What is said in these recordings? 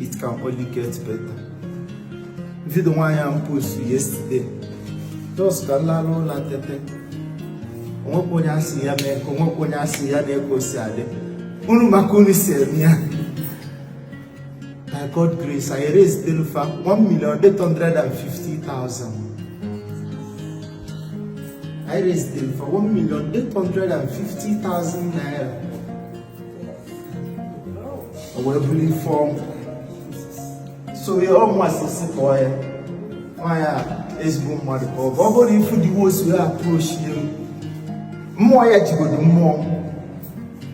it can only get better vidio nwaanyị m post yesterday just ka m lalụ ụla tete onwekwa onye asị ya mee ka onwekwa onye asị ya na ka o si adị unu ma ka unu si eme ya by God grace anyị raisedelu fa one million eight hundred and fifty thousand anyị raisedelu fa one million eight hundred and fifty thousand naira o wee bụrụ ife ọ bụ so ya ọ mmasị si kpọọ ya nwaanyị a ezigbo mmadụ ka ọ bụ ọ bụrụ ị fụ the way o si approach ya mmụọ ya jigodo mmụọ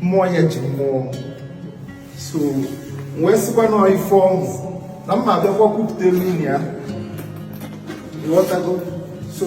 mmụọ ya ji mmụọ m so wee sịkwa na ife ọ bụ na m ma abịakwa kwupụtalụ ya ịghọtago so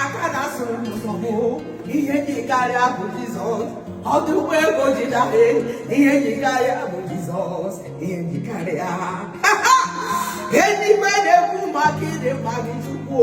aka na-asụrụ nsogbu ihe dị karịa bụ Jizọs ọdụ ụgbọ ego ji dabe ihe dị karịa bụ Jizọs ihe dị karịa eluigwe na-ekwu maka ịdị mma gị Chukwu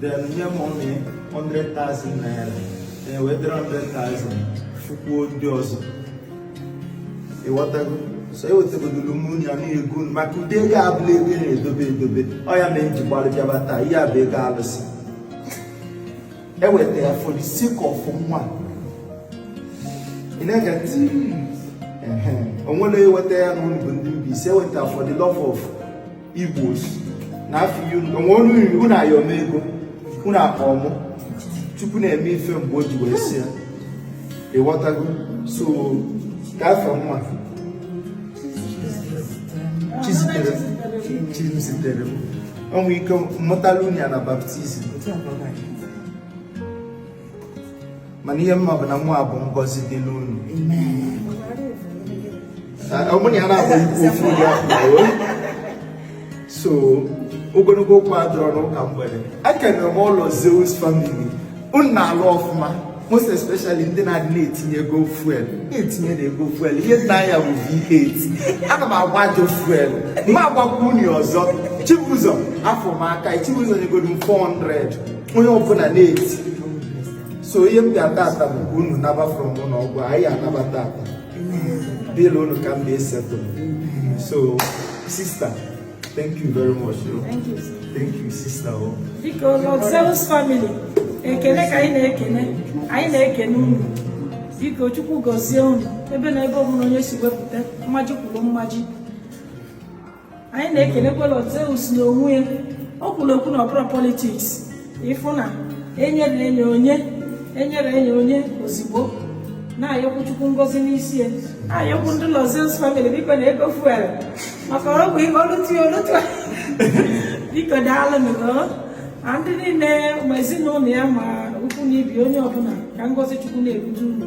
Then nye m onye 100,000 naira then wee 300,000 fụkwuo ndị ọzọ ịghọtago so ewetagodoro m nya na ego maka ụdị ego abụrọ ego a na-edobe edobe ọ ya mere m ji gbalị bịaba taa ihe a bụ ego alụsị eweta ya for the sake of nwa ị na-ege ntị onwere eweta ya na unu bụ ndị Mbaise eweta for the love of Igbos na afọ onwe ọnụ iri unu ayọ m ego unu akpọọ mụ Chukwu na-eme ife mgbe o ji wee sị ya ịghọtago so ka afọ mma Chizitere Chizitere o nwee ike m mụtalụ ya na baptizim mana ihe m ma bụ na nwa a bụ ngọzi dịlụ unu ọmụ na ya na-abụ ikwu ofu ụdị afọ so ogologo okwu adịrọ n'ụka mgbede ekene m Lord Zeus family unu na-alụ ọfụma most especially ndị na-adị na-etinye ego fuel na-etinye na ego fuel ihe m na-anya bụ V8 ana m agba ajọ fuel ma agbakwunye ọzọ Chibuzor afọ m aka Chibuzor nyegodo m 400 onye ọbụla na-eti so ihe m ga-ata ata bụ unu naba from ụlọ ọgwụ anyị anaba taa bill unu ka m na-esettle so sista thank you very much thank you sista o oh. biko Lord Zeus family ekene ka anyị na-ekene anyị na-ekene unu biko Chukwu gọzie unu ebe na ebe ọbụla onye si wepụta mmaji kwuru mmaji anyị na-ekelekwa Lord Zeus n'onwe ya o kwuru okwu na ọ bụrọ politiks ịfụ na enyere enye onye enyere enye onye ozigbo na-ayọkwu chukwu ngozi n'isi ya na-ayọkwu ndị Lord Zeus famili biko na ego fuel maka ọgwụ ihe olutu olutu biko daalụ na ndị niile ma ezinụlọ ya ma ukwu na ibi onye ọbụla ka ngozi chukwu na-ebute unu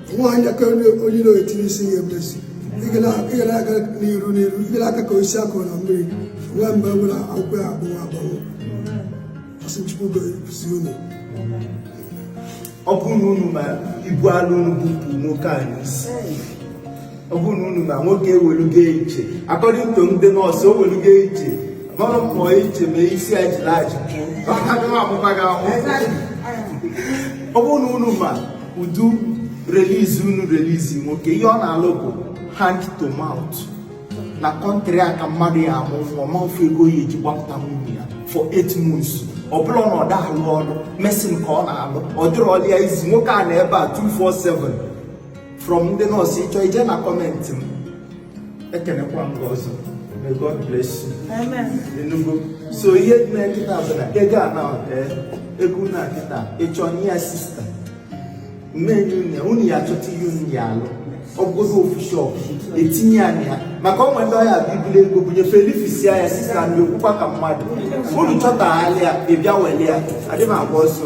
nwaanyị aka onye iro etinye isi ya emezi ị ga na-aga n'iru n'iru ị ga na-aka ka osisi a kụrụ na mmiri nwa mgbe nwere akwụkwọ ya agbanwe agbanwe asị chukwu gozie unu ọ bụrụ na unu ma ibu alọ unu bupụ nwoke a n'isi ọ bụrụ na unu ma nwoke ewelugo iche according to ndị nọọsụ o welugo iche mara mmụọ iche ma isi ya jiri aji pụọ ọ bụrụ na unu ma ụdị relizi unu relizi nwoke ihe ọ na-alụ bụ hand to mouth na kọntrị a ka mmadụ ya amụ nwa ma ọ fụ ego ọ ya-eji gbapụta nwunye ya for eight months ọ bụrọ na ọ da-alụ ọrụ mason ka ọ na-alụ ọ dịrọlị ya easy nwoke a nọ ebe a 247 from ndị nọọsụ ịchọ ije na kọmentị m ekenekwa m gị ọzọ may God bless you ị nụgo so ihe dị na kịta bụ na ego a na eh, ego na kịta ịchọ nye ya sista mmeri unu unu ya achọta ihe unu ya alụ ọ bụgodu ofu shọp etinyela ya maka o nwe ndị ọ ya-abụ i buli ego bunye fa elifisia ya sista na-ekwukwa ka mmadụ unu chọtaghalị ya ịbịa wele ya adịghị agba ọsọ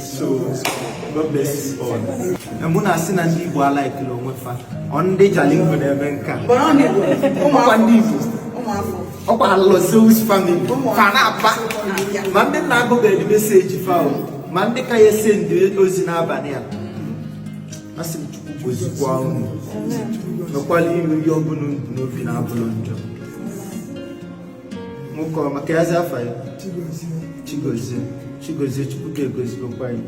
so God bless you all. mụ na-asị na ndị Igbo alaikirọ onwe fa ọ ndị Jalingo na-eme nke a ọkwa ndị Igbo ọkwa Lord Zeus family ma ndị m na-agụbeghị meseji fa ma ndị ka ya-esende ozi n'abalị a asị m Chukwu gozikwa unu mekwala unu ihe ọbụla n'obi na-abụrọ njọ nwoke ọma ka ya azị afa ya chigozie chigozie chukwu ka egozigokwa ya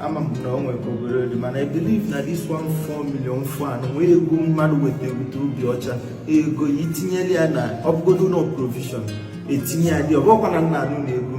ama m na o nwere ka obere dị mana i believe na this one point four million fan nwee ego mmadụ weta ebute obi ọcha ego ya itinyela ya na ọbụgodo ụnọ provision etinyela ya ọbụkwa na nna anụ na ego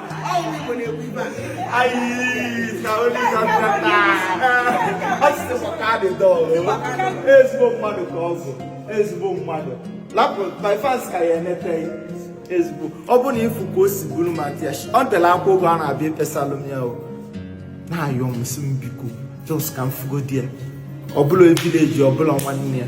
ezigbo mmadụ ka ọ bụ ezigbo mmadụ lapụ my fans ka ya-enete gị ezigbo ọ bụ na ịfụ ka o si buru ma tears o bela akwa oge a na-abịa ekpesalụ m ya o na-ayọ m si m biko jos ka m fụgodi ya ọ bụrọ villager ọ bụrọ nwanne ya